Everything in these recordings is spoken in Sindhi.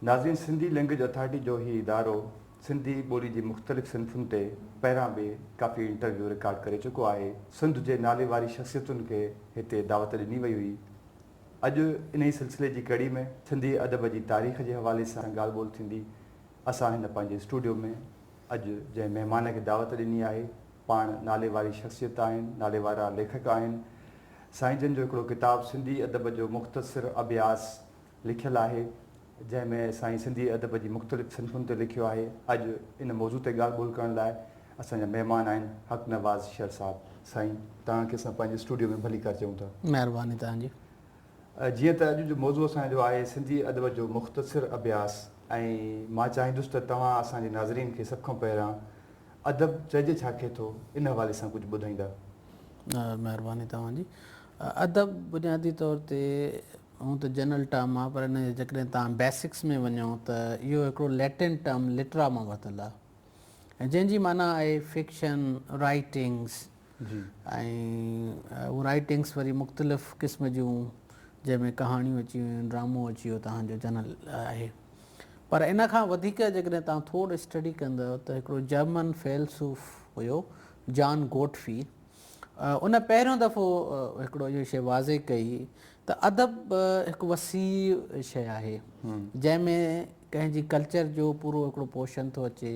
ناظرين سنڌي لينگويج اٿارٽي جو هي ادارو سنڌي ٻولي جي مختلف صنفن تي پهران به ڪافي انٽرويو رڪارڊ ڪري چڪو آهي سنڌ جي نالي واري شخصيتن کي هتي دعوت ڏني وئي هئي اڄ انهي سلسلي جي ڪڙي ۾ سنڌي ادب جي تاريخ جي حوالي سان ڳالهه ٻولهه ٿيندي اسان هن پنهنجي اسٽوڊيو ۾ اڄ جنهن مهمان کي دعوت ڏني آهي پاڻ نالي واري شخصيت آهن، نالي وارا ليکڪ آهن. سائين جن جو هڪڙو ڪتاب سنڌي ادب جو مختصر اڀياس لکيل آهي جنهن ۾ سائين سنڌي ادب جي مختلف صنفن تي لکيو آهي. اڄ ان موضوع تي ڳالهه ٻولهه ڪرڻ لاء اسان جا مهمان آهن حق نواز شر صاحب. سائين توهان کي اسان پنهنجي اسٽوڊيو ۾ ڀليڪار چئون ٿا. مهرباني توهان جي. جيئن ته اڄ جو موضوع اسان جو آهي سنڌي ادب جو مختصر اڀياس ۽ مان چاهيندس ته توهان اسان جي ناظرين کي سڀ کان پهريان ادب چئجي ڇا کي ٿو ان حوالي سان ڪجهه ٻڌائيندا. مهرباني توهان جي. ادب بنيادي طور تي هونء ته جنرل ٽرم آهي پر ان جي جيڪڏهن توهان بيسڪس ۾ وڃو ته اهو هڪڙو ليٽن ٽرم لٽرا مان ورتل آهي ۽ جنهن جي معنيٰ آهي فڪشن، رائيٽنگس، جي ۽ هو رائيٽنگس وري مختلف قسم جون جنهن ۾ ڪهاڻيون اچي ويون ڊرامو اچي ويو تهان جو جنرل آهي پر ان کان وڌيڪ جيڪڏهن تهان ٿورڙ اسٽڊي ڪندو ته هڪڙو جرمن فيلسوف هيو جان گوٽفي ان پهريون دفعو هڪڙو اهو شي واضح ڪئي ته ادب هڪ وسيع شي آهي جنهن ۾ ڪنهن جي ڪلچر جو پورو هڪڙو پوشن ٿو اچي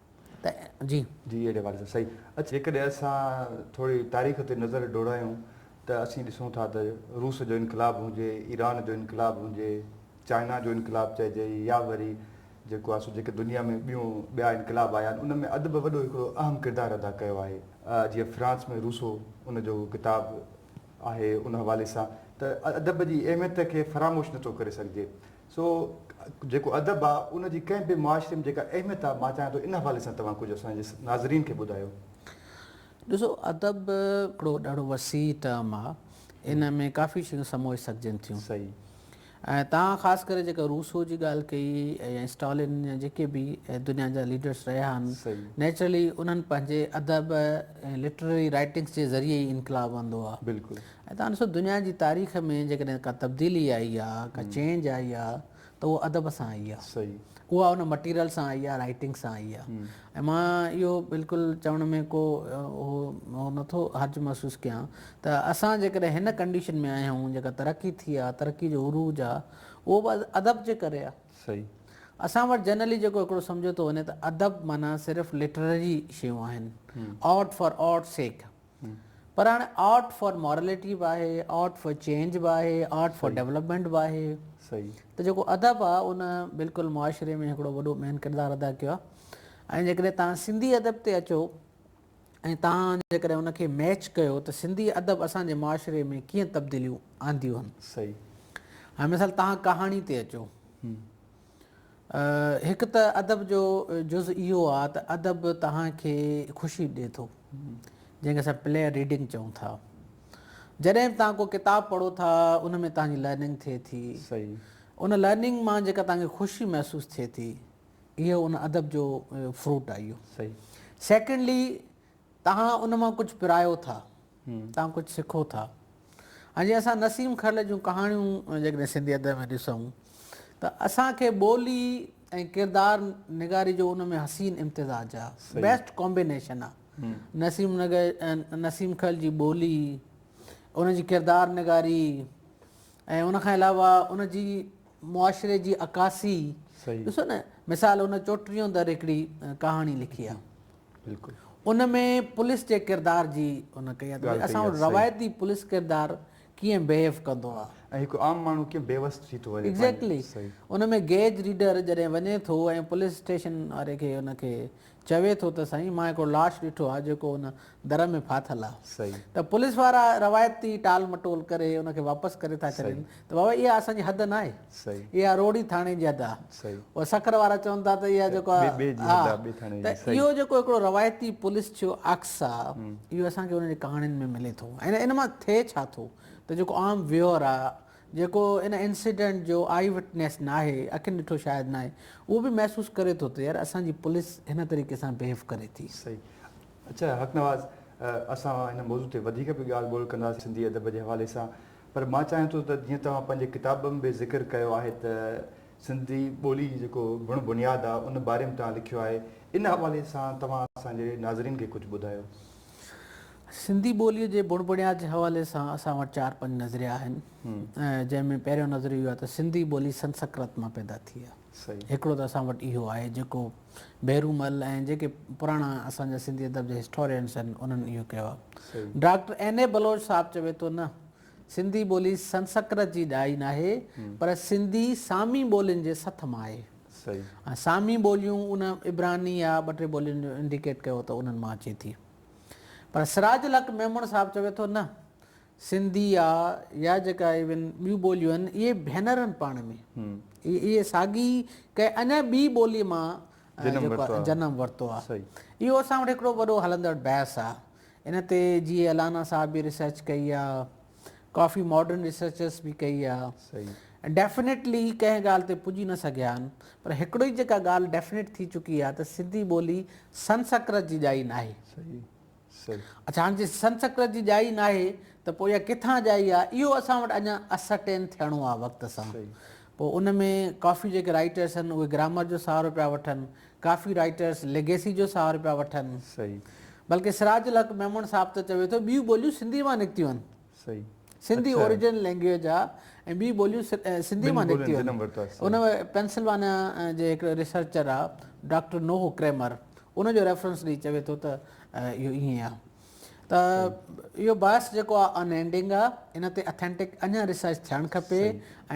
جي جي اهڙي حوالي سان صحيح اچ جيڪڏهن اسان ٿوري تاريخ تي نظر ڊوڙايون ته اسين ڏسون ٿا ته روس جو انقلاب هجي ايران جو انقلاب هجي چائنا جو انقلاب چئجي يا وري جيڪو آهي سو جيڪي دنيا ۾ ٻيون ٻيا انقلاب آيا آهن ان ۾ ادب وڏو هڪڙو اهم ڪردار ادا ڪيو آهي جيئن فرانس ۾ روسو ان جو ڪتاب آهي ان حوالي سان ته ادب جي اهميت کي فراموش نٿو ڪري سگهجي سو جيڪو ادب آ ان جي ڪنهن به معاشري ۾ جيڪا اهميت آ مان چاهيان ٿو ان حوالي سان توهان ڪجهه اسان جي ناظرين کي ٻڌايو. ڏسو ادب هڪڙو ڏاڍو وسيع ٽرم آ ان ۾ ڪافي شيون سموئي سگهجن ٿيون صحيح. ۽ توهان خاص ڪري جيڪا روسو جي ڳالهه ڪئي يا اسٽالن يا جيڪي به دنيا جا ليڊرس رهيا آهن صحيح. نيچرلي انهن پنهنجي ادب ۽ لٽرري رائيٽنگس جي ذريعي ئي انقلاب آندو آ بلڪل. ۽ تان ڏسو دنيا جي تاريخ ۾ جيڪڏهن ڪا تبديلي آئي آ، ڪا چينج آئي آ ته اها ادب سان آئي آ. صحيح. اها ان مٽيريل سان آئي آ، رائيٽنگ سان آئي آ. ۽ مان اهو بلڪل چوڻ ۾ ڪو اهو اهو نٿو حرج محسوس ڪيان ته اسان جيڪڏهن هن ڪنڊيشن ۾ آهيون جيڪا ترقي ٿي آ، ترقي جو عروج آ، اهو به ادب جي ڪري آ. صحيح. اسان وٽ جنرلي جيڪو هڪڙو سمجهيو ٿو وڃي ته ادب معنيٰ صرف لٽرري شيون آهن. Art for art sake. پر هاڻي آرٽ فار مارليٽي به آهي، آرٽ فار چينج به آهي، آرٽ فار ڊيولپمينٽ به آهي. ته جيڪو ادب آهي ان بلڪل معاشري ۾ هڪڙو وڏو مين ڪردار ادا ڪيو آهي ۽ جيڪڏهن توهان سنڌي ادب تي اچو ۽ توهان جيڪڏهن ان کي ميچ ڪيو ته سنڌي ادب اسان جي معاشري ۾ ڪيئن تبديليون آنديون آهن. هاڻي مثال توهان ڪهاڻي تي اچو. هڪ ته ادب جو جز اهو آ ته ادب توهان کي خوشي ڏي ٿو جنهن کي اسان پليئر ريڊنگ چئون ٿا جڏهن به توهان ڪو ڪتاب پڙهو ٿا ان ۾ توهان جي لرننگ ٿئي ٿي ان لرننگ مان جيڪا توهان کي خوشي محسوس ٿئي ٿي اهو ان ادب جو فروٽ آ اهو سيڪنڊلي توهان ان مان ڪجهه پرايو ٿا، توهان ڪجهه سکو ٿا ۽ جي اسان نسيم کرل جون ڪهاڻيون جيڪڏهن سنڌي ادب ۾ ڏسون ته اسان کي ٻولي ۽ ڪردار نگاري جو ان ۾ حسين امتزاج آ، بيسٽ ڪامبينيشن آ. نسيم نسيم کرل جي ٻولي، ان جي ڪردار نگاري، ۽ ان کان علاوه ان جي معاشري جي عڪاسي ڏسو نه مثال ان چوٽريون در هڪڙي ڪهاڻي لکي آ ان ۾ پوليس جي ڪردار جي ان ڪئي آ اسان وٽ روايتي پوليس ڪردار ڪيئن بيهيو ڪندو آ ۽ هڪ عام ماڻهو ڪيئن بيوس ٿي ٿو وڃي ايگزيڪٽلي ان ۾ گيج ريڊر جڏهن وڃي ٿو ۽ پوليس اسٽيشن واري کي ان کي چوي ٿو ته سائين مان هڪڙو لاش ڏٺو آهي جيڪو ان در ۾ ڦاٿل آهي ته پوليس وارا روايتي ٽال مٽول ڪري ان کي واپس ڪري ٿا ڇڏين ته بابا اها اسان جي حد ناهي اها روهڙي ٿاڻي جي حد آهي او سکر وارا چون ٿا ته اها جيڪو آهي ها ته اهو جيڪو هڪڙو روايتي پوليس ڇو عڪس آهي اهو اسان کي انهن جي ڪهاڻين ۾ ملي ٿو ۽ ان مان ٿئي ڇا ٿو ته جيڪو عام ويهر آهي جيڪو ان انسيڊنٽ جو آئي وٽنيس ناهي، اکين ڏٺو شاهد ناهي، اهو به محسوس ڪري ٿو ته يار اسان جي پوليس هن طريقي سان بهيو ڪري ٿي. صحيح. اچا حق نواز اسان هن موضوع تي وڌيڪ به ڳالهه ٻولهه ڪنداسين سنڌي ادب جي حوالي سان پر مان چاهيان ٿو ته جيئن توهان پنهنجي ڪتاب ۾ به ذڪر ڪيو آهي ته سنڌي ٻولي جي جيڪو بڻ بنياد آهي ان باري ۾ توهان لکيو آهي ان حوالي سان توهان اسان جي ناظرين کي ڪجهه ٻڌايو. سنڌي ٻوليء جي بڻ بڻيات جي حوالي سان اسان وٽ چار پنج نظريا آهن جنهن ۾ پهريون نظريو اهو آهي ته سنڌي ٻولي سنسڪرت مان پيدا ٿي آهي هڪڙو ته اسان وٽ اهو آهي جيڪو ڀيرومل ۽ جيڪي پراڻا اسان جا سنڌي ادب جا هسٽورينس آهن انهن اهو ڪيو آهي ڊاڪٽر اين اي بلوچ صاحب چوي ٿو نه سنڌي ٻولي سنسڪرت جي ڏائي ناهي پر سنڌي سامي ٻولين جي سٿ مان آهي ۽ سامي ٻوليون ان عبراني يا ٻه ٽي ٻولين جو انڊيڪيٽ ڪيو ته انهن مان اچي ٿي پر سراج الحق ميمڻ صاحب چوي ٿو نه سنڌي يا يا جيڪا ايون ٻيون ٻوليون آهن اهي ڀينر آهن پاڻ ۾ اهي ساڳي ڪنهن اڃا ٻي ٻولي مان جنم ورتو آهي اهو اسان وٽ هڪڙو وڏو هلندڙ بحث آهي ان تي جيئي الانا صاحب به ريسرچ ڪئي آهي ڪافي ماڊرن ريسرچس به ڪئي آ ۽ ڊيفنيٽلي ڪنهن ڳالهه تي پڄي نه سگهيا آهن پر هڪڙو ئي جيڪا ڳالهه ڊيفنيٽ ٿي چڪي آ ته سنڌي ٻولي سنسڪرت جي ڄائي ناهي اڇا هاڻ جي سنسڪرت جي ڄائي ناهي ته پوء اها ڪٿان ڄائي آ اهو اسان وٽ اڃان اسرٽين ٿيڻو آ وقت سان پوء ان ۾ ڪافي جيڪي رائيٽرس آهن اهي گرامر جو سهارو پيا وٺن، ڪافي رائيٽرس ليگيسي جو سهارو پيا وٺن. بلڪه سراج الحق ميمڻ صاحب ته چوي ٿو ٻيون ٻوليون سنڌي مان نڪتيون آهن. سنڌي اوريجنل لينگويج آ ۽ ٻيون ٻوليون سنڌي مان نڪتيون آهن. ان پينسلوانيا جي هڪڙي ريسرچر آ ڊاڪٽر نوه ڪريمر ان جو ريفرنس ڏئي چوي ٿو ته اهو ائين آ. ته اهو باعث جيڪو آهي ان اينڊنگ آهي ان تي اٿينٽڪ اڃا ريسرچ ٿيڻ کپي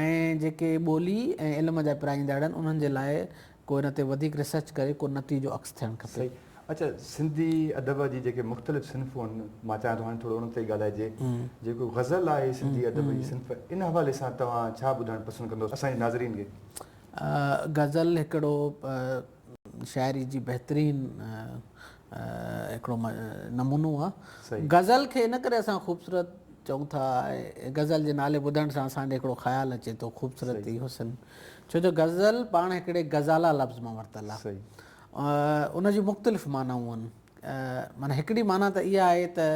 ۽ جيڪي ٻولي ۽ علم جا پرائيندڙ آهن انهن جي لاء ڪو ان تي وڌيڪ ريسرچ ڪري ڪو نتيجو عڪس ٿيڻ کپي. اچا سنڌي ادب جي جيڪي مختلف صنفون آهن مان چاهيان ٿو هاڻي ٿورو انهن تي ڳالهائجي جيڪو غزل آهي سنڌي ادب جي صنف ان حوالي سان توهان ڇا ٻڌائڻ پسند ڪندو اسان جي ناظرين کي. غزل هڪڙو شاعري جي بهترين هڪڙو نمونو آ غزل کي ان ڪري اسان خوبصورت چئون ٿا غزل جي نالي ٻڌڻ سان اسان ڏي هڪڙو خيال اچي ٿو خوبصورتي حسن ڇو جو غزل پاڻ هڪڙي غزالا لفظ مان ورتل آ ان جي مختلف معنائون آهن معنيٰ هڪڙي معنيٰ ته اها آهي ته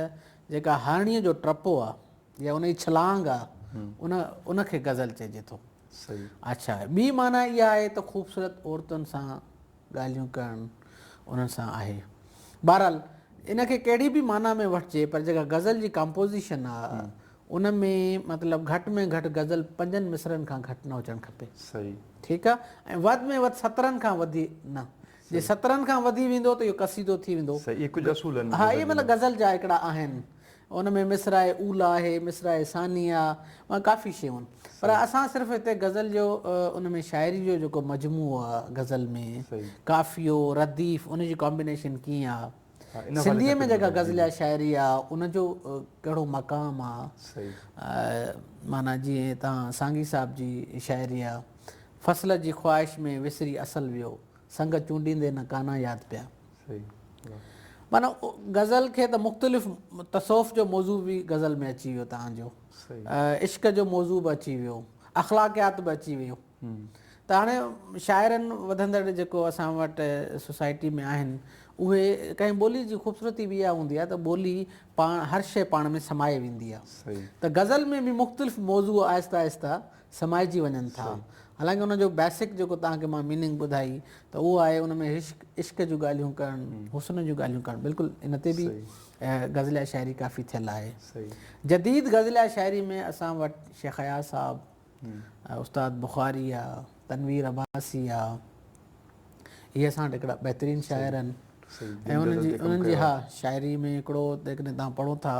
جيڪا هارڻيء جو ٽپو آ يا ان جي ڇلانگ آ ان ان کي غزل چئجي ٿو. صحيح. اچھا ٻي معنيٰ اها آهي ته خوبصورت عورتن سان ڳالهيون ڪرڻ انهن سان آهي. بهرحال ان کي ڪهڙي به معنيٰ ۾ وٺجي پر جيڪا غزل جي ڪمپوزيشن آ ان ۾ مطلب گهٽ ۾ گهٽ غزل پنجن مصرعن کان گهٽ نه هجڻ کپي. صحيح. ٺيڪ آ ۽ وڌ ۾ وڌ سترن کان وڌي نه. جي سترن کان وڌي ويندو ته اهو قصيدو ٿي ويندو. صحيح اهي ڪجهه اصول آهن. ها اهي مطلب غزل جا هڪڙا آهن. ان ۾ مصرع اولا آهي، مصرع ثانيه آ ۽ ڪافي شيون آهن. پر اسان صرف هتي غزل جو ان ۾ شاعري جو جيڪو مجموعو آ غزل ۾ قافيو، رديف ان جي ڪامبينيشن ڪيئن آ. سنڌيء ۾ جيڪا غزليه شاعري آ ان جو ڪهڙو مقام آ. معنيٰ جيئن هتان سانگي صاحب جي شاعري آ. فصل جي خواهش ۾ وسري اصل ويو، سنگ چونڊيندي نه ڪانان ياد پيا. معنيٰ غزل کي ته مختلف تصوف جو موضوع به غزل ۾ اچي ويو توهان جو عشق جو موضوع به اچي ويو اخلاقيات به اچي ويو ته هاڻي شاعرن وڌندڙ جيڪو اسان وٽ سوسائٽي ۾ آهن اهي ڪنهن ٻولي جي خوبصورتي به اها هوندي آهي ته ٻولي پاڻ هر شيء پاڻ ۾ سمائي ويندي آهي ته غزل ۾ به مختلف موضوع آهسته آهسته سمائجي وڃن ٿا حالانڪه ان جو بيسڪ جيڪو توهان کي مان ميننگ ٻڌائي ته اهو آهي ان ۾ عشق عشق جون ڳالهيون ڪرڻ حسن جون ڳالهيون ڪرڻ بلڪل ان تي به غزليه شاعري ڪافي ٿيل آهي جديد غزليه شاعري ۾ اسان وٽ شيخ اياز صاحب استاد بخاري آ تنوير عباسي آ هي اسان وٽ هڪڙا بهترين شاعر آهن ۽ انهن جي انهن جي ها شاعري ۾ هڪڙو جيڪڏهن توهان پڙهو ٿا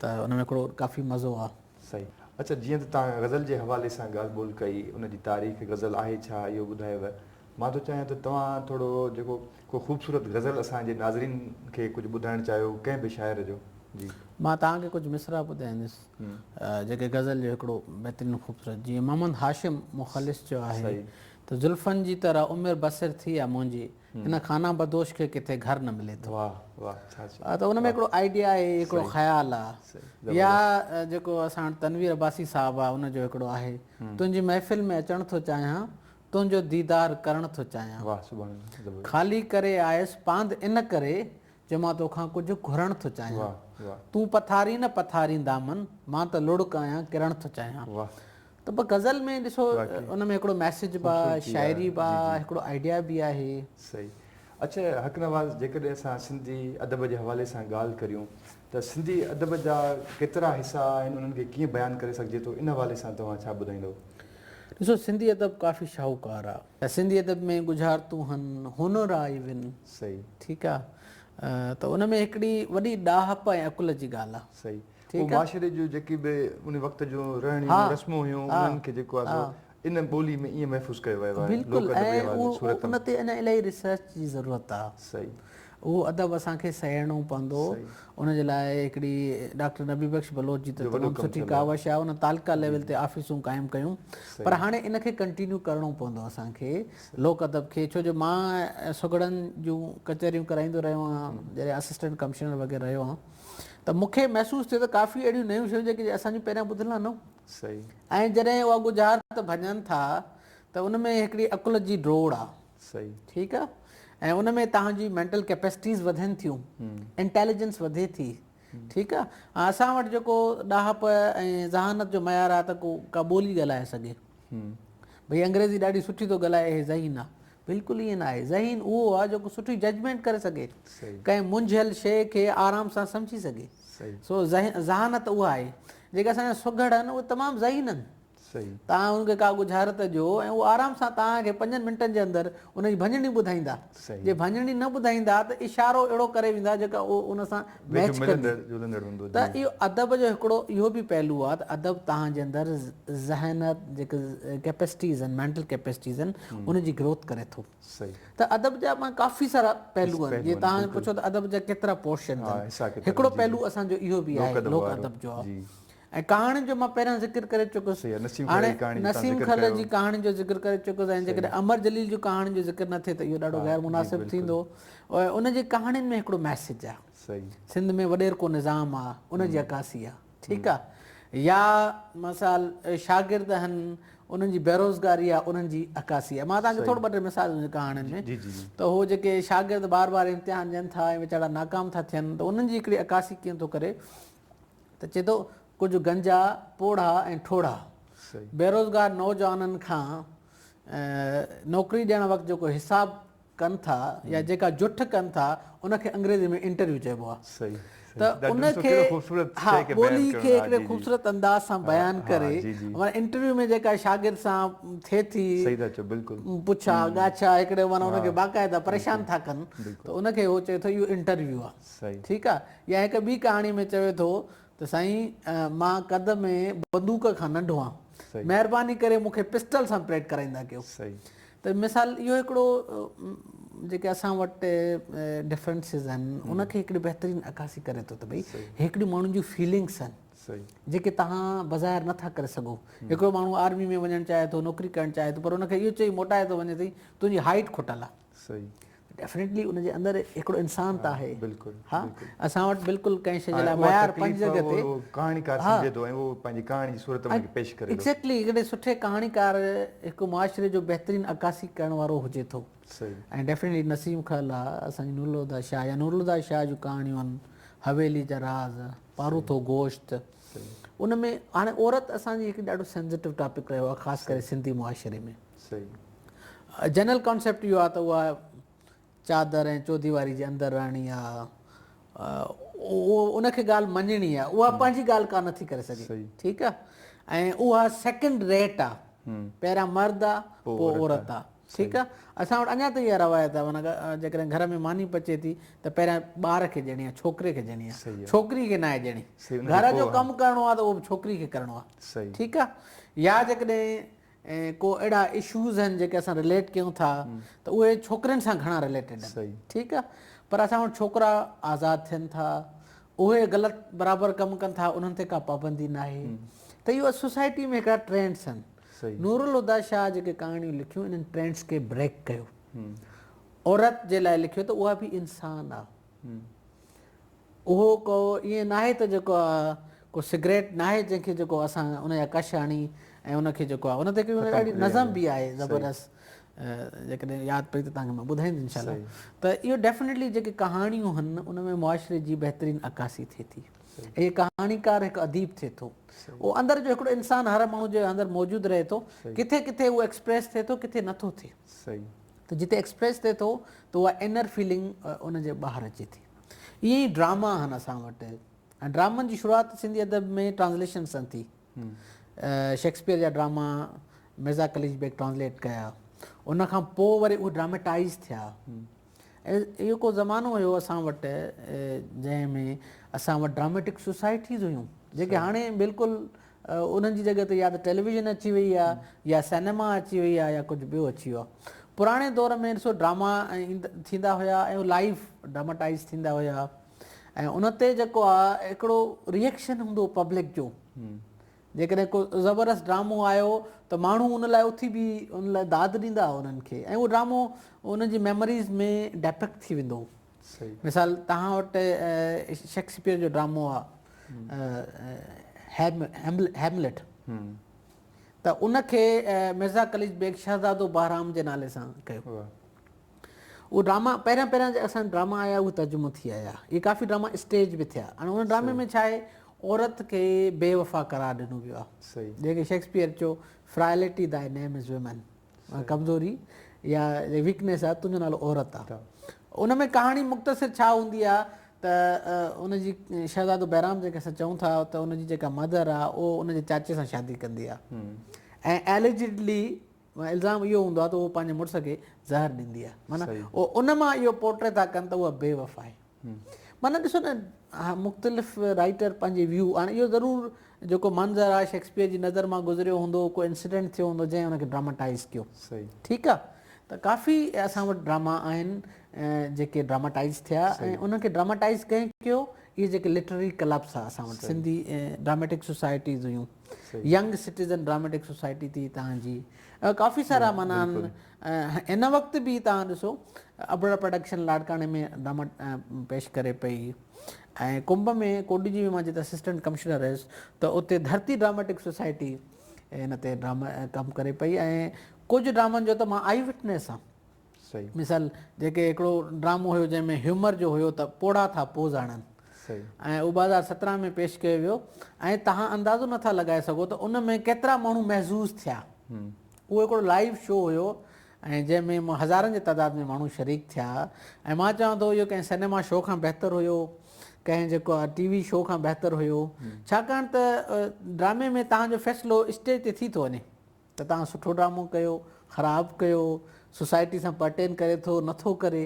ته ان ۾ هڪڙو ڪافي مزو آ صحيح. اڇا جيئن ته توهان غزل جي حوالي سان ڳالهه ٻولهه ڪئي، ان جي تاريخ، غزل آهي ڇا، اهو ٻڌايو. مان ٿو چاهيان ته توهان ٿورو جيڪو ڪو خوبصورت غزل اسان جي ناظرين کي ڪجهه ٻڌائڻ چاهيو ڪنهن به شاعر جو. جي. مان توهان کي ڪجهه مصرع ٻڌائيندس جيڪي غزل جو هڪڙو بهترين خوبصورت جيئن محمد هاشم مخلص چيو آهي ته زلفن جي طرح عمر بسر ٿي آ منهنجي. هن خانه بدوش کي ڪٿي گهر نه ملي ٿو. ته ان ۾ هڪڙو آئيڊيا آهي، هڪڙو خيال آ. يا جيڪو اسان وٽ تنوير عباسي صاحب آ، ان جو هڪڙو آهي، تنهنجي محفل ۾ اچڻ ٿو چاهيان، تنهنجو ديدار ڪرڻ ٿو چاهيان. خالي ڪري آيس پاند ان ڪري، جو مان توکان ڪجهه گهرڻ ٿو چاهيان تون پٿارين نه پٿارين دامن مان ته لڙڪ آهيان ڪرڻ ٿو چاهيان ته به غزل ۾ ڏسو ان ۾ هڪڙو ميسج به آهي شاعري به آهي هڪڙو آئيڊيا به آهي صحيح اڇا حق نواز جيڪڏهن اسان سنڌي ادب جي حوالي سان ڳالهه ڪريون ته سنڌي ادب جا ڪيترا حصا آهن انهن کي ڪيئن بيان ڪري سگهجي ٿو ان حوالي سان توهان ڇا ٻڌائيندو ڏسو سنڌي ادب ڪافي شاهوڪار آهي سنڌي ادب ۾ ڳجهارتون هن، هنر آ ئي ون. صحيح. ٺيڪ آ. ته ان ۾ هڪڙي وڏي ڏاهپ ۽ عقل جي ڳالهه آ. صحيح. هو معاشري جون جيڪي به ان وقت جون رهڻيون رسمون هيون انهن کي جيڪو آ سو ان ٻولي ۾ ائين محفوظ ڪيو ويو آهي لوڪ ادب جي حوالي صورت ۾. بلڪل ۽ ان تي اڃا الاهي ريسرچ جي ضرورت آ. صحيح. اهو ادب اسان کي سهيڙڻو پوندو. ان جي لاء هڪڙي ڊاڪٽر نبي بخش بلوچ جي ته تمام سٺي ڪاوش آهي. ان تعلقه ليول تي آفيسون قائم ڪيون. پر هاڻي ان کي ڪنٽينيو ڪرڻو پوندو اسان کي لوڪ ادب کي. ڇو جو مان سگهڙن جون ڪچهريون ڪرائيندو رهيو آهيان. جڏهن اسسٽنٽ ڪمشنر وغيره رهيو آهيان ته مون کي محسوس ٿيو ته ڪافي اهڙيون نيون شيون جيڪي اسان جون پهريان ٻڌل آهن. ۽ جڏهن اها ڳجهارت ڀڃن ٿا ته ان ۾ هڪڙي عقل جي ڊوڙ آهي. صحيح. ٺيڪ آ ۽ ان ۾ توهان جي مينٽل ڪيپيسٽيز وڌين ٿيون انٽيليجنس وڌي ٿي ٺيڪ آ ۽ اسان وٽ جيڪو ڏاهپ ۽ ذهانت جو معيار آ ته ڪو ڪا ٻولي ڳالهائي سگهي ڀئي انگريزي ڏاڍي سٺي ٿو ڳالهائي اهي ذهين آ بلڪل ائين نه آهي ذهين اهو آ جيڪو سٺي ججمينٽ ڪري سگهي ڪنهن منجهيل شي کي آرام سان سمجهي سگهي سو ذهانت اها آهي جيڪي اسان جا سگهڙ آهن اهي تمام ذهين آهن توهان هن کي ڪا ڳجهارت ڏيو ۽ هو آرام سان توهان کي پنجن منٽن جي اندر ان جي ڀڃڻي ٻڌائيندا. جي ڀڃڻي نه ٻڌائيندا ته اشارو اهڙو ڪري ويندا جيڪا اهو ان سان ميچ ڪندي. ته اهو ادب جو هڪڙو اهو به پهلو آهي ته ادب توهان جي اندر ذهنيت جيڪي ڪيپسٽيز آهن مينٽل ڪيپسٽيز آهن ان جي گروٿ ڪري ٿو. ته ادب جا پاڻ ڪافي سارا پهلو آهن جي توهان پڇو ته ادب جا ڪيترا پورشنز آهن هڪڙو پهلو اسان جو اهو به آهي لوڪ ادب جو. ۽ ڪهاڻين جو مان پهريان ذڪر ڪري چڪس. هاڻي نسيم کل جي ڪهاڻين جو ذڪر ڪري چڪس ۽ جيڪڏهن امر جليل جون ڪهاڻين جو ذڪر نه ٿئي ته اهو ڏاڍو غير مناسب ٿيندو. ان جي ڪهاڻين ۾ هڪڙو ميسيج آ. سنڌ ۾ وڏيرڪو نظام آ ان جي عڪاسي آ. ٺيڪ آ. يا مثال شاگرد هن انهن جي بيروزگاري آ انهن جي عڪاسي آ. مان توهان کي ٿورو ٻه ٽي مثال ڏيندس ڪهاڻين ۾ ته هو جيڪي شاگرد بار بار امتحان ڏين ٿا ۽ ويچارا ناڪام ٿا ٿين ته انهن جي هڪڙي عڪاسي ڪيئن ٿو ڪري ته چئي ٿو ڪجهه گنجا، پوڙها ۽ ٺوڙها بيروزگار نوجوانن کان نوڪري ڏيڻ وقت جيڪو حساب ڪن ٿا يا جيڪا جٺ ڪن ٿا ان کي انگريزي ۾ انٽرويو چئبو آهي ته ان کي ها ٻولي کي هڪڙي خوبصورت انداز سان بيان ڪري معنيٰ انٽرويو ۾ جيڪا شاگرد سان ٿئي ٿي پڇا ڳاڇا هڪڙي معنيٰ ان کي باقاعده پريشان ٿا ڪن ته ان کي هو چئي ٿو اهو انٽرويو آهي. ٺيڪ آ يا هڪ ٻي ڪهاڻي ۾ چوي ٿو ته سائين مان قد ۾ بندوق کان ننڍو آهيان مهرباني ڪري مون کي پسٽل سان پريڊ ڪرائيندا ڪيو ته مثال اهو هڪڙو جيڪي اسان وٽ ڊفرنسز آهن ان کي هڪڙي بهترين عڪاسي ڪري ٿو ته ڀئي هڪڙي ماڻهن جون فيلنگس آهن جيڪي تهان بظاهر نٿا ڪري سگهو هڪڙو ماڻهو آرمي ۾ وڃڻ چاهي ٿو نوڪري ڪرڻ چاهي ٿو پر ان کي اهو چئي موٽائي ٿو وڃي ته تنهنجي هائيٽ کٽل آهي صحيح. ڊيفنيٽلي ان جي اندر هڪڙو انسان ته آهي. بلڪل. ها اسان وٽ بلڪل ڪنهن شيء جي لاء معيار پنهنجي جڳهه تي. اها تڪليف ڪهاڻيڪار سمجهي ٿو ۽ اهو پنهنجي ڪهاڻي جي صورت ۾ پيش ڪري ٿو. ايگزيڪٽلي هڪڙي سٺي ڪهاڻيڪار هڪ معاشري جو بهترين عڪاسي ڪرڻ وارو هجي ٿو. صحيح. ۽ ڊيفنيٽلي نسيم خل آ اسان جي نورالهديٰ شاهه يا نورالهديٰ شاهه جون ڪهاڻيون آهن حويلي جا راز، پاروٿو گوشت. صحيح. ان ۾ هاڻي عورت اسان جي هڪ ڏاڍو سينزيٽو ٽاپڪ رهيو آهي خاص ڪري سنڌي معاشري ۾. صحيح جنرل ڪانسيپٽ اهو آهي ته اها چادر ۽ چوديواري جي اندر رهڻي آهي اهو ان کي ڳالهه مڃڻي آهي اها پنهنجي ڳالهه ڪا نٿي ڪري سگهي ٺيڪ آهي ۽ اها سيڪنڊ ريٽ آهي پهريان مرد آهي پوء عورت آهي ٺيڪ آهي اسان وٽ اڃا تائين اها روايت آهي معنيٰ جيڪڏهن گهر ۾ ماني پچي ٿي ته پهريان ٻار کي ڏيڻي آهي ڇوڪري کي ڏيڻي آهي ڇوڪري کي ناهي ڏيڻي گهر جو ڪم ڪرڻو آهي ته اهو به ڇوڪري کي ڪرڻو آهي ٺيڪ آهي يا جيڪڏهن ۽ ڪو اهڙا اشوز آهن جيڪي اسان رليٽ ڪيون ٿا ته اهي ڇوڪرين سان گهڻا رليٽيڊ آهن ٺيڪ آهي پر اسان وٽ ڇوڪرا آزاد ٿين ٿا اهي غلط برابر ڪم ڪن ٿا انهن تي ڪا پابندي نه آهي ته اهو سوسائٽي ۾ هڪڙا ٽرينڊس آهن نورالهديٰ شاهه جيڪي ڪهاڻيون لکيون انهن ٽرينڊس کي بريڪ ڪيو عورت جي لاء لکيو ته اها به انسان آهي اهو ڪو ائين ناهي ته جيڪو آ ڪو سگريٽ ناهي جنهن کي جيڪو اسان ان جا ڪش هڻي ۽ ان کي جيڪو آ ان تي ڪيون اهڙي نظم به آهي زبردست جيڪڏهن ياد پئي ته تهانکي مان ٻڌائيندس ان شاء الله ته اهو ڊيفنيٽلي جيڪي ڪهاڻيون هن ان ۾ معاشري جي بهترين عڪاسي ٿئي ٿي هي ڪهاڻيڪار هڪ اديب ٿئي ٿو اهو اندر جو هڪڙو انسان هر ماڻهو جي اندر موجود رهي ٿو ڪٿي ڪٿي اهو ايڪسپريس ٿئي ٿو ڪٿي نٿو ٿئي ته جتي ايڪسپريس ٿئي ٿو ته اها انر فيلنگ ان جي ٻاهر اچي ٿي. ائين ئي ڊراما آهن اسان وٽ ۽ ڊرامن جي شروعات سنڌي ادب ۾ ٽرانسليشن سان ٿي. شيڪسپيئر جا ڊراما مرزا قليچ بيگ ٽرانسليٽ ڪيا. ان کان پوء وري اهي ڊراميٽائيز ٿيا. اهو ڪو زمانو هيو اسان وٽ جنهن ۾ اسان وٽ ڊراميٽڪ سوسائٽيز هيون جيڪي هاڻي بلڪل انهن جي جڳهه تي يا ته ٽيليويزن اچي وئي آ يا سينيما اچي وئي آ يا ڪجهه ٻيو اچي ويو آ. پراڻي دور ۾ ڏسو ڊراما ٿيندا هيا ۽ هو لائيو ڊراماٽائيز ٿيندا هيا ۽ ان تي جيڪو آ هڪڙو ريئڪشن هوندو پبلڪ جو جيڪڏهن ڪو زبردست ڊرامو آيو ته ماڻهو ان لاء اٿي بي ان لاء داد ڏيندا انهن کي ۽ اهو ڊرامو انهن جي ميموريز ۾ ڊيپڪ ٿي ويندو مثال توهان وٽ شيڪسپيئر جو ڊرامو آ هيملٽ ته ان کي مرزا قليچ بيگ شهزادو بهرام جي نالي سان ڪيو اهو ڊراما پهريان پهريان جي اسان ڊراما آيا اهي ترجمو ٿي آيا اهي ڪافي ڊراما اسٽيج به ٿيا ۽ ان ڊرامي ۾ ڇا آهي عورت کي بي وفا قرار ڏنو ويو آهي جنهن کي شيڪسپيئر چيو فرائلٽي دائي نيم از ويمن ڪمزوري يا ويڪنيس آ تنهنجو نالو عورت آ ان ۾ ڪهاڻي مختصر ڇا هوندي آ ته ان جي شهزادو بهرام جنهن کي اسان چئون ٿا ته ان جي جيڪا مدر آ اهو ان جي چاچي سان شادي ڪندي آ ۽ اليجيڊلي الزام اهو هوندو آ ته اهو پنهنجي مڙس کي زهر ڏيندي آ معنيٰ ان مان اهو پورٽري ٿا ڪن ته اها بي وفا آهي معنيٰ ڏسو نه مختلف رائيٽر پنهنجي ويو هاڻي اهو ضرور جيڪو منظر آهي شيڪسپيئر جي نظر مان گذريو هوندو ڪو انسيڊنٽ ٿيو هوندو جنهن ان کي ڊراماٽائز ڪيو ٺيڪ آهي ته ڪافي اسان وٽ ڊراما آهن جيڪي ڊراماٽائز ٿيا ۽ انهن کي ڊراماٽائز ڪنهن ڪيو اهي جيڪي لٽرري ڪلبس آهي اسان وٽ سنڌي ڊراميٽڪ سوسائٽيز هيون ينگ سٽيزن ڊراميٽڪ سوسائٽي ٿي تهان جي ڪافي سارا معنيٰ هن وقت به تهان ڏسو ابڙ پروڊڪشن لاڙڪاڻي ۾ ڊراما پيش ڪري پئي ۽ ڪنب ۾ ڪوڏي جي مان جتي اسسٽنٽ ڪمشنر هيس ته اتي ڌرتي ڊراميٽڪ سوسائٽي هن تي ڊراما ڪم ڪري پئي ۽ ڪجهه ڊرامن جو ته مان آئي وٽنيس آ مثال جيڪي هڪڙو ڊرامو هيو جنهن ۾ هيومر جو هيو ته پوڙها ٿا پوز آڻن ۽ اهو ٻه هزار سترهن ۾ پيش ڪيو ويو ۽ توهان اندازو نه ٿا لڳائي سگهو ته ان ۾ ڪيترا ماڻهو محظوظ ٿيا اهو هڪڙو لائيو شو هيو ۽ جنهن ۾ هزارن جي تعداد ۾ ماڻهو شريڪ ٿيا ۽ مان چوان ٿو اهو ڪنهن سينيما شو کان بهتر هيو ڪنهن جيڪو ٽي وي شو کان بهتر هيو ڇاڪاڻ ته ڊرامي ۾ توهان جو فيصلو اسٽيج تي ٿي ٿو وڃي ته توهان سٺو ڊرامو ڪيو خراب ڪيو سوسائٽي سان پرٽين ڪري ٿو نٿو ڪري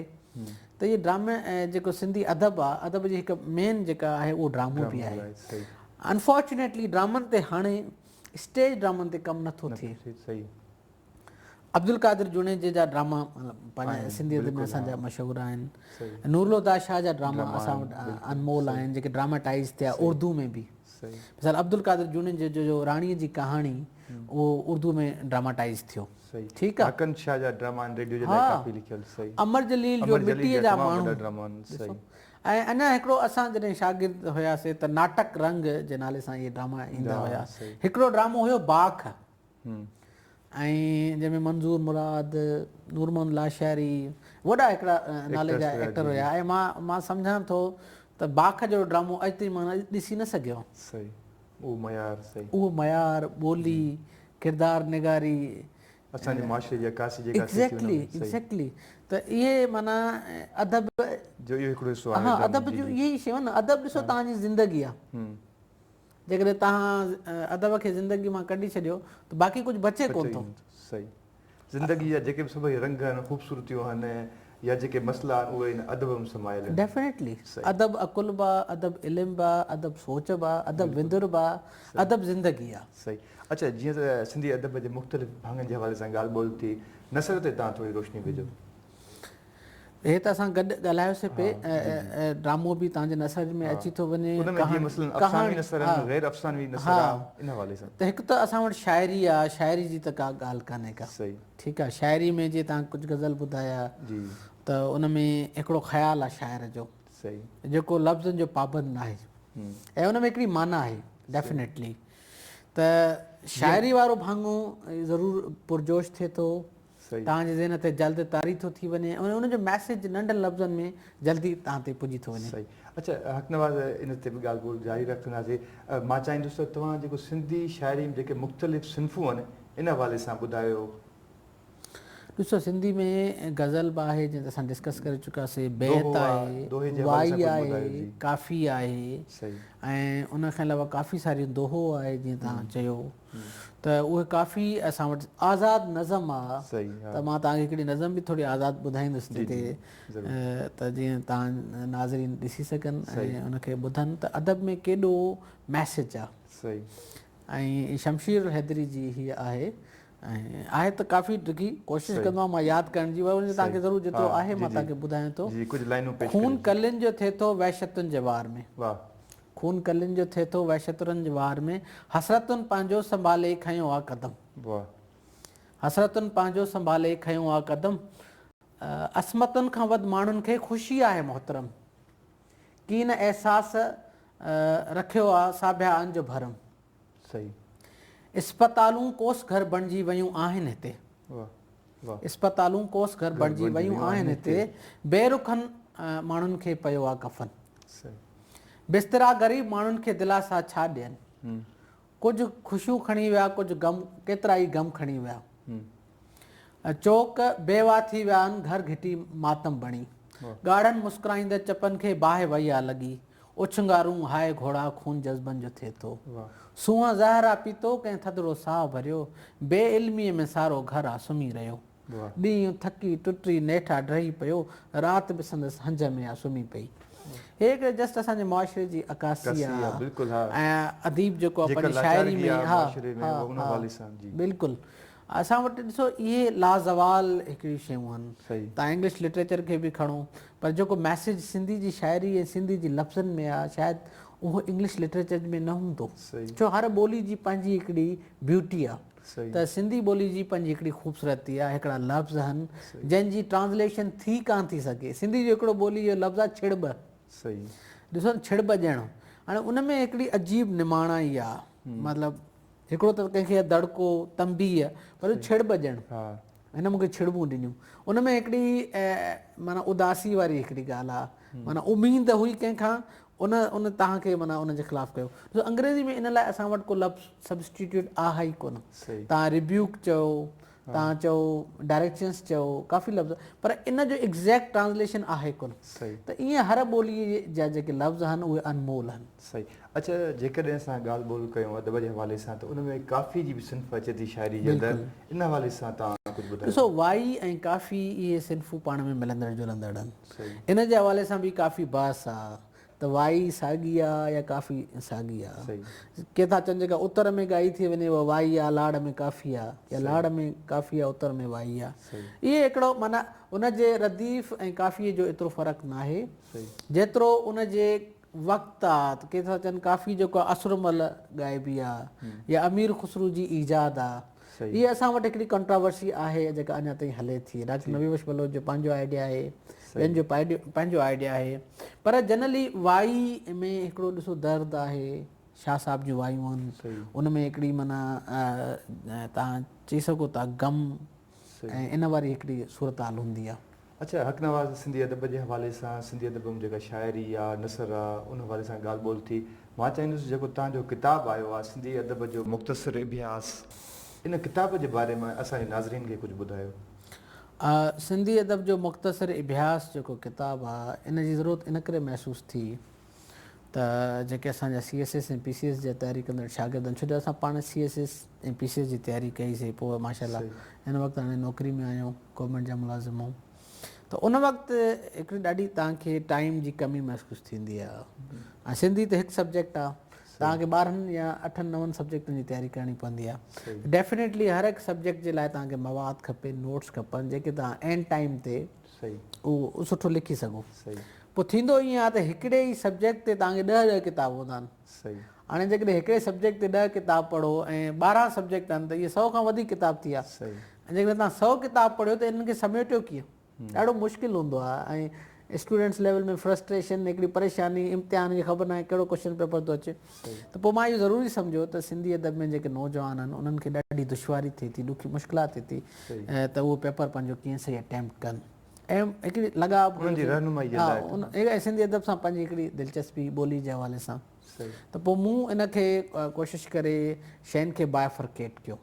ته اهي ڊرامي ۽ جيڪو سنڌي ادب آ ادب جي هڪ مين جيڪا آهي اهو ڊرامو به آهي انفارچونيٽلي ڊرامن تي هاڻي اسٽيج ڊرامن تي ڪم نٿو ٿئي عبدالقادر جوڻيجي جا ڊراما پنهنجي سنڌي ادب ۾ اسان جا مشهور آهن نور الهدى شاهه جا ڊراما اسان وٽ انمول آهن جيڪي ڊراماٽائز ٿيا اردو ۾ به مثال عبدالقادر جوڻيجي جو راڻي جي ڪهاڻي اهو اردوء ۾ ڊراماٽائيز ٿيو. ٺيڪ آ. حقن شاهه جا ڊراما آهن ريڊيو جي لاء ڪافي لکيل. صحيح. امر جليل جو مٽيء جا ماڻهو. امر جليل جا تمام وڏا ڊراما آهن. صحيح. ۽ اڃا هڪڙو اسان جڏهن شاگرد هياسي ته ناٽڪ رنگ جي نالي سان اهي ڊراما ايندا هيا. هڪڙو ڊرامو هيو باک ۽ جنهن ۾ منظور مراد، نور محمد لاشاري وڏا هڪڙا نالي جا ايڪٽر هيا ۽ مان مان سمجهان ٿو ته باک جهڙو ڊرامو اڄ تائين مان ڏسي نه سگهيو آهيان. صحيح. اهو معيار سهي. اهو معيار، ٻولي، ڪردار نگاري. اسان جي معاشري جي عڪاسي جيڪا ٿئي ٿي ان ۾. ايگزيڪٽلي ايگزيڪٽلي ته اهي معنيٰ ادب. جو اهو هڪڙو حصو آهي. ها ادب جون اهي ئي شيون نه ادب ڏسو توهان جي زندگي آ. جيڪڏهن توهان ادب کي زندگي مان ڪڍي ڇڏيو ته باقي ڪجهه بچي ڪونه ٿو. سهي. زندگيء جا جيڪي به سڀئي رنگ آهن، خوبصورتيون آهن يا جيڪي مسئلا آهن اهي هن ادب ۾ سمايل آهن. ڊيفنيٽلي. ادب عقل به آ، ادب علم به آ، ادب سوچ به آ، ادب وندر به آ، ادب زندگي آ. صحيح. اڇا جيئن ته سنڌي ادب جي مختلف ڀاڱن جي حوالي سان ڳالهه ٻولهه ٿي، نثر تي توهان ٿوري روشني وجهو. هي ته اسان گڏ ڳالهايو سي پي ڊرامو به تهان جي نثر ۾ اچي ٿو وڃي ان ۾ جيئن مثلاً افسانوي نثر آهن غير افسانوي نثر آهن ان حوالي سان ته هڪ ته اسان وٽ شاعري آهي شاعري جي ته ڪا ڳالهه ڪانهي ڪا صحيح ٺيڪ آهي شاعري ۾ جي تهان ڪجهه غزل ٻڌايا جي ته ان ۾ هڪڙو خيال آهي شاعر جو صحيح جيڪو لفظن جو پابند ناهي ۽ ان ۾ هڪڙي معنيٰ آهي ڊيفنيٽلي ته شاعري وارو ڀاڱو ضرور پرجوش ٿئي ٿو توهان جي ذهن تي جلد طاري ٿو ٿي وڃي ۽ ان جو ميسيج ننڍن لفظن ۾ جلدي توهان تي پڄي ٿو وڃي. اچا حق نواز ان تي به ڳالهه ٻولهه جاري رکنداسين. مان چاهيندس ته توهان جيڪو سنڌي شاعري ۾ جيڪي مختلف صنفون آهن ان حوالي سان ٻڌايو. ڏسو سنڌي ۾ غزل به آهي جنهن تي اسان ڊسڪس ڪري چڪاسين، بيت آهي، وائي آهي، ڪافي آهي ۽ ان کان علاوه ڪافي ساريون دوهو آهي جيئن توهان چيو. ته اهي ڪافي اسان وٽ آزاد نظم آ ته مان توهان کي هڪڙي نظم به ٿوري آزاد ٻڌائيندس جيڪي ته جيئن توهان ناظرين ڏسي سگهن ۽ ان کي ٻڌن ته ادب ۾ ڪيڏو ميسج آ ۽ شمشير الحيدري جي هي آهي ۽ آهي ته ڪافي ڊگهي ڪوشش ڪندوآهيان مان ياد ڪرڻ جي ورنه توهان کي ضرور جيترو آهي مان توهان کي ٻڌايان ٿو خون ڪلين جو ٿئي ٿو وحشتن جي وار ۾. خون ڪلين جو ٿئي ٿو وحشترن جي وار ۾، حسرتن پنهنجو سنڀالي کنيو آ قدم. واهه. حسرتن پنهنجو سنڀالي کنيو آ قدم، عصمتن کان وڌ ماڻهن کي خوشي آهي محترم، ڪين احساس رکيو آ ساڀيا ان جو ڀرم. صحيح. اسپتالون ڪوس گهر بڻجي ويون آهن هتي. واه واه. اسپتالون ڪوس گهر بڻجي ويون آهن هتي. بي رخن ماڻهن کي پيو آ ڪفن. صحيح. بسترا غريب ماڻهن کي دلاسا ڇا ڏين. ڪجهه خوشيون کڻي ويا ڪجهه غم ڪيترا ئي غم کڻي ويا. چوڪ بيواهه ٿي ويا ان گهر گهٽي ماتم بڻي ڳاڙهن مسڪرائيندڙ چپن کي باهه وهي آ لڳي اڇنگارون هاء گهوڙا خون جذبن جو ٿئي ٿو سونهن زهر آ پيتو ڪنهن ٿڌڙو ساهه ڀريو بي علميء ۾ سارو گهر آ سمهي رهيو ڏينهن ٿڪي ٽٽي نيٺ آ ڊهي پيو رات به سندس هنج ۾ آ سمهي پئي هي هڪڙي جسٽ اسان جي معاشري جي عڪاسي آ ۽ اديب جيڪو آ پنهنجي شاعري ۾ ها ها ها بلڪل اسان وٽ ڏسو اهي لازوال هڪڙيون شيون آهن. تان انگلش لٽريچر کي به کڻو پر جيڪو ميسيج سنڌي جي شاعري ۽ سنڌي جي لفظن ۾ آ شايد اهو انگلش لٽريچر ۾ نه هوندو ڇو هر ٻولي جي پنهنجي هڪڙي بيوٽي آ ته سنڌي ٻولي جي پنهنجي هڪڙي خوبصورتي آ هڪڙا لفظ هن جن جي ٽرانسليشن ٿي ڪانه ٿي سگهي سنڌي جو هڪڙو ٻولي جو لفظ آ ڇڙٻ ڏسو ڇڙٻ ڄڻو هاڻي ان ۾ هڪڙي عجيب نماڻائي آ مطلب هڪڙو ته ڪنهن کي دڙڪو، تنبيهه، وري ڇڙٻ ڏيڻ. هن مون کي ڇڙٻون ڏنيون. ان ۾ هڪڙي معنيٰ اداسي واري هڪڙي ڳالهه آ. معنيٰ اميد هئي ڪنهن کان، ان ان تهان کي معنيٰ ان جي خلاف ڪيو. ڏسو انگريزي ۾ ان لاء اسان وٽ ڪو لفظ Substitute آ هئي ڪونه. تهان Rebuke چئو، توهان چئو ڊائريڪشنس چئو ڪافي لفظ پر ان جو ايگزيڪٽ ٽرانسليشن آهي ڪونه صحيح ته ايئن هر ٻولي جا جيڪي لفظ آهن اهي انمول آهن صحيح اڇا جيڪڏهن اسان ڳالهه ٻولهه ڪيون ادب جي حوالي سان ته ان ۾ ڪافي جي به صنف اچي ٿي شاعري جي اندر ان حوالي سان توهان ڪجهه ٻڌايو ڏسو وائي ۽ ڪافي اهي صنفون پاڻ ۾ ملندڙ جلندڙ آهن ان جي حوالي سان به ڪافي بحث آهي ته وائي ساڳي آ يا ڪافي ساڳي آ. ڪي ٿا چون جيڪا اتر ۾ ڳائي ٿي وڃي اها وائي آ لاڙ ۾ ڪافي آ يا لاڙ ۾ ڪافي آ اتر ۾ وائي آ. اهي هڪڙو معنيٰ ان جي رديف ۽ ڪافيء جو ايترو فرق ناهي جيترو ان جي وقت آ ته ڪي ٿا چون ڪافي جيڪو آ اسرمل ڳائبي آ يا امير خسرو جي ايجاد آ. هيء اسان وٽ هڪڙي ڪنٽراورسي آهي جيڪا اڃا تائين هلي ٿي. ڊاڪٽر نبي بخش بلوچ جو پنهنجو آئيڊيا آهي، ٻين جو پنهنجو آئيڊيا آهي. پر جنرلي وائي ۾ هڪڙو ڏسو درد آهي، شاهه صاحب جون وايون آهن، ان ۾ هڪڙي معنيٰ توهان چئي سگهو ٿا غم ۽ ان واري هڪڙي صورتحال هوندي آهي. اچا حق نواز سنڌي ادب جي حوالي سان سنڌي ادب م جيڪا شاعري آ نثر آ ان حوالي سان ڳالھ ٻولھ ٿي مان چاهيندس جيڪو توهان جو ڪتاب آيو آ سنڌي ادب جو مختصر اڀياس ان ڪتاب جي باري م اسان جي ناظرين کي ڪجھ ٻڌايو. آ سنڌي ادب جو مختصر اڀياس جيڪو ڪتاب آ ان جي ضرورت ان ڪري محسوس ٿي ته جيڪي اسان جا C S S ۽ P C S جا تياري ڪندڙ شاگرد آهن ڇو جو اسان پاڻ C S S ۽ P C S جي تياري ڪئي سي پوء ماشاء الله هن وقت هاڻي نوڪري ۾ آهيون گورنمينٽ جا ملازم آهيون ته ان وقت هڪڙي ڏاڍي توهان کي ٽائيم جي ڪمي محسوس ٿيندي آهي ۽ سنڌي ته هڪ سبجيڪٽ آهي توهان کي ٻارهن يا اٺن نون سبجيڪٽن جي تياري ڪرڻي پوندي آهي ڊيفينيٽلي هر هڪ سبجيڪٽ جي لاء توهان کي مواد کپي نوٽس کپن جيڪي توهان اينڊ ٽائيم تي اهو سٺو لکي سگهو. پوء ٿيندو ائين آهي ته هڪڙي ئي سبجيڪٽ تي توهان کي ڏهه ڏهه ڪتاب هوندا آهن. هاڻي جيڪڏهن هڪڙي سبجيڪٽ تي ڏهه ڪتاب پڙهو ۽ ٻارهن سبجيڪٽ آهن ته اهي سؤ کان وڌيڪ ڪتاب ٿيا. ۽ جيڪڏهن توهان سؤ ڪتاب پڙهيو ته انهن کي سميٽيو ڪيئن؟ ڏاڍو مشڪل هوندو آهي ۽ اسٽوڊنٽس ليول ۾ فرسٽريشن هڪڙي پريشاني امتحان جي خبر ناهي ڪهڙو ڪوشچن پيپر ٿو اچي. ته پوء مان اهو ضروري سمجهيو ته سنڌي ادب ۾ جيڪي نوجوان آهن انهن کي ڏاڍي دشواري ٿئي ٿي ڏکي مشڪلات ٿئي ٿي ته اهو پيپر پنهنجو ڪيئن سهي اٽيمپٽ ڪن ۽ هڪڙي لڳاء به انهن جي رهنمائي جي لاء ته ۽ سنڌي ادب سان پنهنجي هڪڙي دلچسپي ٻولي جي حوالي سان ته پوء مون ان کي ڪوشش ڪري شين کي بائفرڪيٽ ڪيو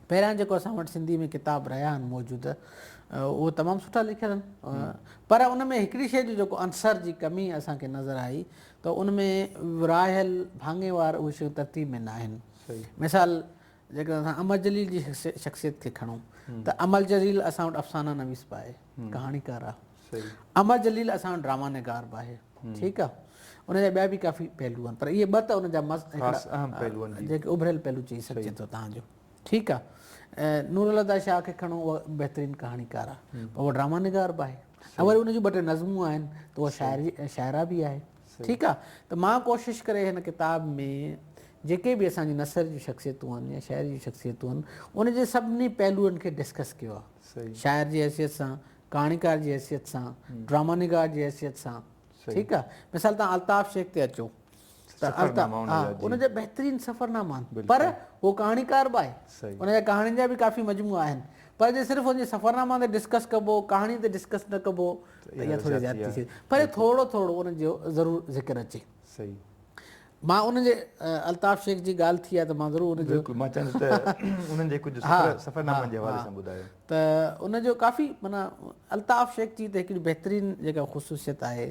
پهريان جيڪو اسان وٽ سنڌي ۾ ڪتاب رهيا آهن موجود اهو تمام سٺا لکيل آهن پر ان ۾ هڪڙي شيء جو جيڪو عنصر جي ڪمي اسان کي نظر آئي ته ان ۾ ورهايل ڀاڱي وار اهي شيون ترتيب ۾ نه آهن. مثال جيڪڏهن اسان امر جليل جي شخصيت کي کڻون ته امر جليل اسان وٽ افسانه نويس به آهي، ڪهاڻيڪار آهي. امر جليل اسان وٽ ڊراما نگار به آهي. ٺيڪ آهي. ان جا ٻيا به ڪافي پهلو آهن پر اهي ٻه ته ان جا اهم پهلو آهن جيڪي اڀريل پهلو چئي سگهجي ٿو تهان جو. ٺيڪ آ نور الله داد شاهه کي کڻو اهو بهترين ڪهاڻيڪار آ پر اهو ڊراما نگار به آهي ۽ وري ان جون ٻه ٽي نظمون آهن ته اهو شاعري ۽ شاعره به آهي ٺيڪ آ ته مان ڪوشش ڪري هن ڪتاب ۾ جيڪي به اسان جون نثر جون شخصيتون آهن يا شاعري جون شخصيتون آهن ان جي سڀني پهلوئن کي ڊسڪس ڪيو آ شاعر جي حيثيت سان ڪهاڻيڪار جي حيثيت سان ڊراما نگار جي حيثيت سان ٺيڪ آ مثال تان الطاف شيخ تي اچو سفرناما ان جا بهترين سفرناما آهن پر هو ڪهاڻيڪار به آهي ان جا ڪهاڻين جا به ڪافي مجموعا آهن پر جي صرف ان جي سفرناما تي ڊسڪس ڪبو ڪهاڻي تي ڊسڪس نه ڪبو ته اها ٿوري زيادتي ٿئي پر ٿورو ٿورو ان جو ضرور ذڪر اچي صحيح مان ان جي الطاف شيخ جي ڳالهه ٿي آهي ته مان ضرور ان جو بلڪل مان چاهندس ته انهن جي ڪجهه سفرنامن جي حوالي سان ٻڌايو ته ان جو ڪافي معنيٰ الطاف شيخ جي ته هڪڙي بهترين جيڪا خصوصيت آهي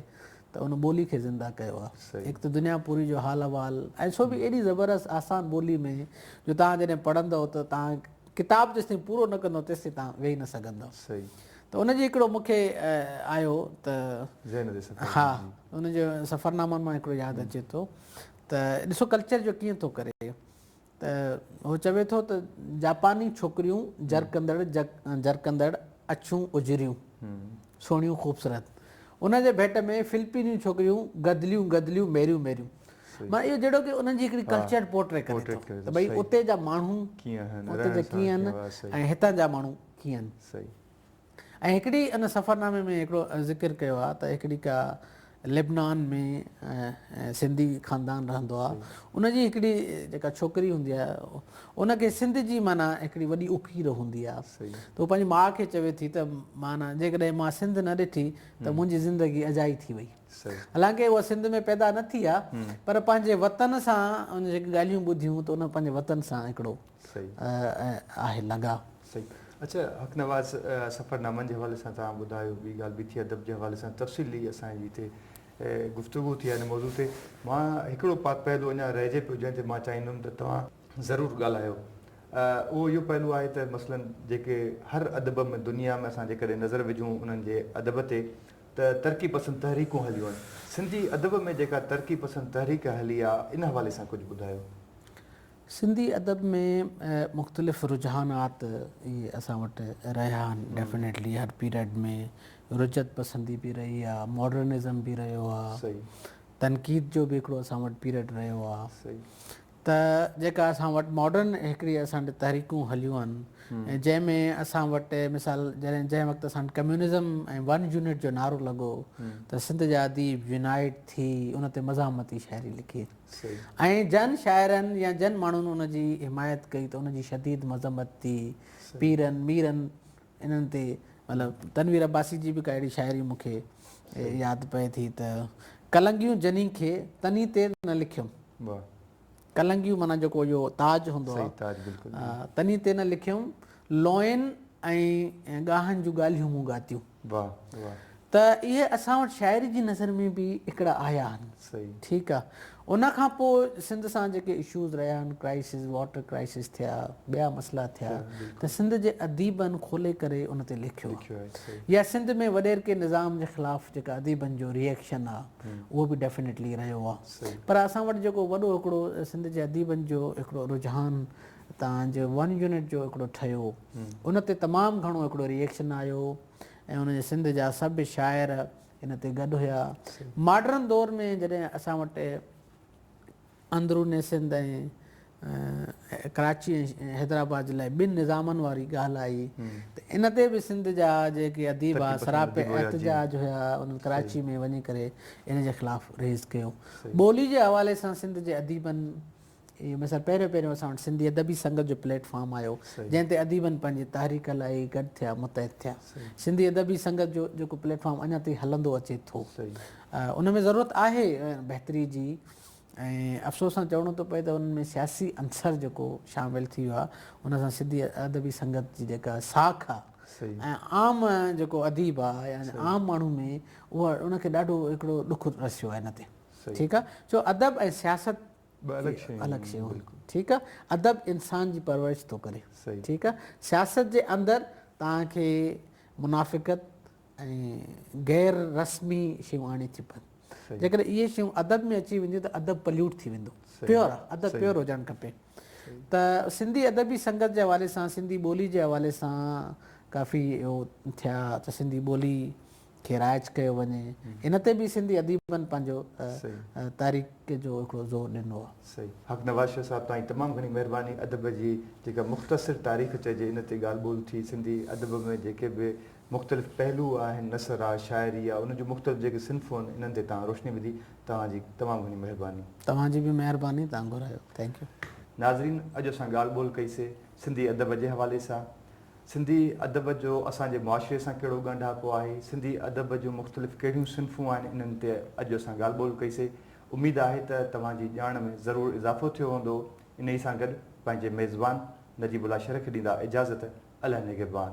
ته ان ٻولي کي زنده ڪيو آ هڪ ته دنيا پوري جو حال احوال ۽ سو به ايڏي زبردست آسان ٻولي ۾ جو توهان جڏهن پڙهندؤ ته توهان ڪتاب جيستائين پورو نه ڪندؤ تيستائين توهان ويهي نه سگهندؤ ته ان جي هڪڙو مون کي آيو ته ها ان جو سفرنامن مان هڪڙو ياد اچي ٿو ته ڏسو ڪلچر جو ڪيئن ٿو ڪري ته هو چوي ٿو ته جاپاني ڇوڪريون جرڪندڙ جرڪندڙ اڇيون اجريون سهڻيون خوبصورت ان جي ڀيٽ ۾ فلپينيون ڇوڪريون گدليون گدليون ميريون ميريون مانا اهو جهڙو ڪي انهن جي هڪڙي ڪلچر پورٽري ڪري ٿو ته ڀئي اتي جا ماڻهو ڪيئن آهن اتي جا ڪيئن آهن ۽ هتان جا ماڻهو ڪيئن آهن ۽ هڪڙي ان سفرنامي ۾ هڪڙو ذڪر ڪيو آهي ته هڪڙي ڪا لبنان ۾ سنڌي خاندان رهندو آهي ان جي هڪڙي جيڪا ڇوڪري هوندي آهي ان کي سنڌ جي معنيٰ هڪڙي وڏي اڪير هوندي آهي ته پنهنجي ماء کي چوي ٿي ته معنيٰ جيڪڏهن مان سنڌ نه ڏٺي ته منهنجي زندگي اجائي ٿي وئي حالانڪه اها سنڌ ۾ پيدا نه ٿي آهي پر پنهنجي وطن سان ان جيڪي ڳالهيون ٻڌيون ته ان پنهنجي وطن سان هڪڙو آهي لڳاء صحيح اچا حق نواز سفر نامن جي حوالي سان توهان ٻڌايو ٻي ڳالهه بيٿي ادب جي حوالي سان تفصيلي اسان جي هتي گفتگو ٿي آهي ان موضوع تي مان هڪڙو پهلو اڃا رهجي پيو جنهن تي مان چاهيندم ته توهان ضرور ڳالهايو اهو اهو پهلو آهي ته مثلا جيڪي هر ادب ۾ دنيا ۾ اسان جيڪڏهن نظر وجهون انهن جي ادب تي ته ترقي پسند تحريڪون هليون آهن سنڌي ادب ۾ جيڪا ترقي پسند تحريڪ هلي آهي ان حوالي سان ڪجهه ٻڌايو سنڌي ادب ۾ مختلف رجحانات اسان وٽ رهيا آهن ڊيفنيٽلي هر پيريڊ ۾ رجعت پسندي به رهي آهي ماڊرنزم به رهيو آهي تنقيد جو به هڪڙو اسان وٽ پيريڊ رهيو آهي ته جيڪا اسان وٽ ماڊرن هڪڙي اسان وٽ تحريڪون هليون آهن جنهن ۾ اسان وٽ مثال جڏهن جنهن وقت اسان وٽ ڪميونزم ۽ ون يونٽ جو نعرو لڳو ته سنڌ جا اديب يونائيٽ ٿي ان تي مزاحمتي شاعري لکي ۽ جن شاعرن يا جن ماڻهن ان جي حمايت ڪئي ته ان جي شديد مذمت ٿي. پيرن، ميرن انهن تي مطلب تنوير عباسي جي به ڪا اهڙي شاعري مون کي ياد پئي ٿي ته ڪلنگيون جني کي تني تي نه لکيم. ڪلنگيون معنيٰ جيڪو اهو تاج هوندو آهي تني تي نه لکيم لونئن ۽ ڳاهن جون ڳالهيون مون ڳاتيون. ته اهي اسان وٽ شاعري جي نظر ۾ به هڪڙا آيا آهن. ٺيڪ آ. ان کان پوء سنڌ سان جيڪي اشوز رهيا آهن، ڪرائسز، واٽر ڪرائسز ٿيا، ٻيا مسئلا ٿيا ته سنڌ جي اديبن کولي ڪري ان تي لکيو آ. يا سنڌ ۾ وڏيرڪي نظام جي خلاف جيڪا اديبن جو ري ايڪشن آ، اهو به ڊيفنيٽلي رهيو آ. پر اسان وٽ جيڪو وڏو هڪڙو سنڌ جي اديبن جو هڪڙو رجحان تان جو ون يونٽ جو هڪڙو ٺهيو ان تي تمام گهڻو هڪڙو ريئڪشن آيو ۽ ان جو سنڌ جا سڀ شاعر ان تي گڏ هيا ماڊرن دور ۾ جڏهن اسان وٽ اندرون سنڌ ۽ ڪراچي ۽ حيدرآباد جي لاء ٻن نظامن واري ڳالهه آئي ته ان تي به سنڌ جا جيڪي اديب هئا سراپي احتجاج هيا انهن ڪراچي ۾ وڃي ڪري ان جي خلاف ريز ڪيو ٻولي جي حوالي سان سنڌ جي اديبن اهو مثال پهريون پهريون اسان وٽ سنڌي ادبي سنگت جو پليٽ فارم آيو جنهن تي اديبن پنهنجي تحريڪ لاء گڏ ٿيا متحد ٿيا سنڌي ادبي سنگت جو جيڪو پليٽ فارم اڃا تائين هلندو اچي ٿو ان ۾ ضرورت آهي بهتري جي ۽ افسوس سان چوڻو ٿو پئي ته ان ۾ سياسي عنصر جيڪو شامل ٿي ويو آهي ان سان سنڌي ادبي سنگت جي جيڪا ساک آهي عام جيڪو اديب آهي يعني عام ماڻهو ۾ اها ان کي ڏاڍو هڪڙو ڏک رسيو آهي ان تي ٺيڪ آهي ڇو ادب ۽ سياست ٻه الڳ شيون آهن. الڳ شيون آهن. ٺيڪ آهي. ادب انسان جي پرورش ٿو ڪري. صحيح. ٺيڪ آهي. سياست جي اندر توهان کي منافقت ۽ غير رسمي شيون آڻي ٿيون پون. صحيح. جيڪڏهن اهي شيون ادب ۾ اچي وينديون ته ادب پليوٽ ٿي ويندو. صحيح. پيور آهي. ادب صحيح. پيور هجڻ کپي. صحيح. ته سنڌي ادبي سنگت جي حوالي سان سنڌي ٻولي جي حوالي سان ڪافي اهو ٿيا ته سنڌي ٻولي کي رائج ڪيو وڃي ان تي به سنڌي اديبن پنهنجو تحريڪ جو هڪڙو زور ڏنو آهي. صحيح حق نواز شاهه صاحب توهان جي تمام گهڻي مهرباني ادب جي جيڪا مختصر تاريخ چئجي ان تي ڳالهه ٻولهه ٿي سنڌي ادب ۾ جيڪي به مختلف پهلو آهن نثر آ شاعري آ ان جون مختلف جيڪي صنفون آهن انهن تي توهان روشني وڌي توهان جي تمام گهڻي مهرباني. توهان جي به مهرباني توهان گهرايو ٿينڪ يو. ناظرين اڄ اسان ڳالهه ٻولهه ڪئي سي سنڌي ادب جي حوالي سان سنڌي ادب جو اسان جي معاشري سان ڪهڙو ڳنڍاپو آهي، سنڌي ادب جون مختلف ڪهڙيون صنفون آهن انهن تي اڄ اسان ڳالهه ٻولهه ڪئي سي، اميد آهي ته توهان جي ڄاڻ ۾ ضرور اضافو ٿيو هوندو، انهي سان گڏ پنهنجي ميزبان نجيب الله شر کي ڏيندا اجازت اله نگهبان.